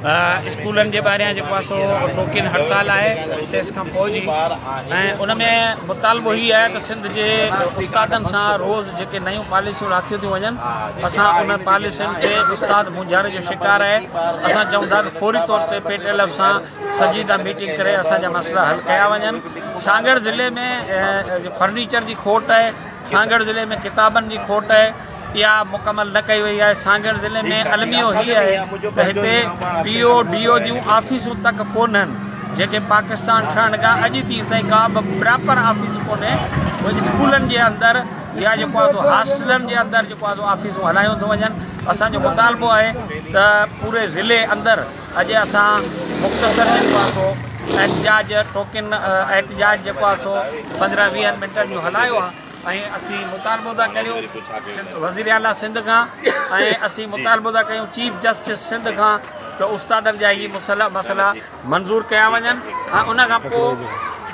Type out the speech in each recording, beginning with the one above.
اسڪولن جي ٻاهريان جيڪو آهي سو ٽوڪين هڙتال آهي ريسيس کان پوء جي ۽ ان ۾ مطالبو هي آهي ته سنڌ جي استادن سان روز جيڪي نيون پاليسيون راکيون ٿيون وڃن اسان ان پاليسين تي استاد مونجهاري جو شڪار آهي اسان چون ٿا ته فوري طور تي پي ٽي ايل ايف سان سنجيده ميٽنگ ڪري اسان جا مسئلا حل ڪيا وڃن سانگهڙ ضلعي ۾ فرنيچر جي کوٽ آهي سانگهڙ ضلعي ۾ ڪتابن جي کوٽ آهي اها مڪمل نه ڪئي وئي آهي سانگهڙ ضلعي ۾ الميو هي آهي ته هتي پي او ڊي او جون آفيسون تڪ ڪونهن جيڪي پاڪستان ٺهڻ کان اڄ ڏينهن تائين ڪا به پراپر آفيس ڪونهي ۽ اسڪولن جي اندر يا جيڪو آهي سو هاسٽلن جي اندر جيڪو آهي سو آفيسون هلايون ٿيون وڃن اسان جو مطالبو آهي ته پوري ضلعي اندر اڄ اسان مختصر جيڪو آهي سو احتجاج ٽوڪن احتجاج جيڪو آهي سو پندرهن ويهن منٽن جو هلايو آهي ۽ اسين مطالبو ٿا ڪريون وزير اعليٰ سنڌ کان ۽ اسين مطالبو ٿا ڪريون چيف جسٽس سنڌ کان ته استادن جا هي مسئلا مسئلا منظور ڪيا وڃن ۽ ان کان پوء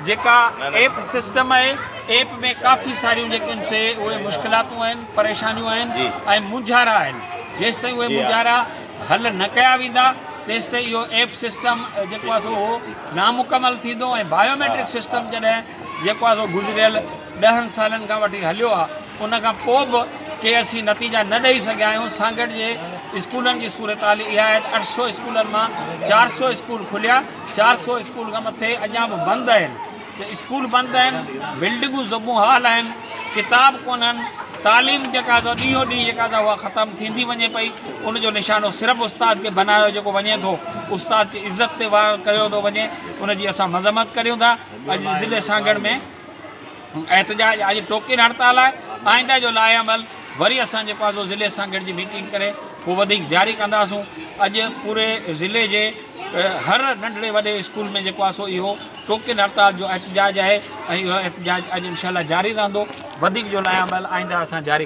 جيڪا ايپ سسٽم آهي ايپ ۾ ڪافي ساريون جيڪي آهن سي اهي مشڪلاتون آهن پريشانيون آهن ۽ مونجهارا آهن جيستائين اهي مونجهارا حل نه ڪيا ويندا تيستائين اهو ايپ سسٽم جيڪو آهي سو نامڪمل ٿيندو ۽ بايوميٽرڪ سسٽم جڏهن جيڪو آهي سو گذريل ڏهن سالن کان وٺي هليو آ ان کان پو به ڪي اسين نتيجا نه ڏئي سگهيا آهيون سانگهڙ جي اسڪولن جي صورتحال اها آهي ته اٺ سؤ اسڪولن مان چار سؤ اسڪول کليا چار سؤ اسڪول کان مٿي اڄان به بند اهن ته اسڪول بند اهن بلڊنگون زبون حال اهن ڪتاب ڪونهن تعليم جيڪا سا ڏينهون ڏينهن جيڪا سا اها ختم ٿيندي وڃي پئي ان جو نشانو صرف استاد کي بنايو جيڪو وڃي ٿو استاد جي عزت تي وار ڪيو ٿو وڃي ان جي اسان مذمت ڪريون ٿا اڄ ضلعي سانگهڙ ۾ احتجاج اڄ ٽوڪيل هڙتال آهي آئنده جو لائحه عمل وري اسان جيڪو آهي سو ضلعي سان گڏجي ميٽنگ ڪري پوء وڌيڪ جاري ڪنداسون اڄ پوري ضلعي جي هر ننڍڙي وڏي اسڪول ۾ جيڪو آهي سو اهو ٽوڪيل هڙتال جو احتجاج آهي ۽ اهو احتجاج اڄ انشاء الله جاري رهندو وڌيڪ جو لائحه عمل آئنده اسان جاري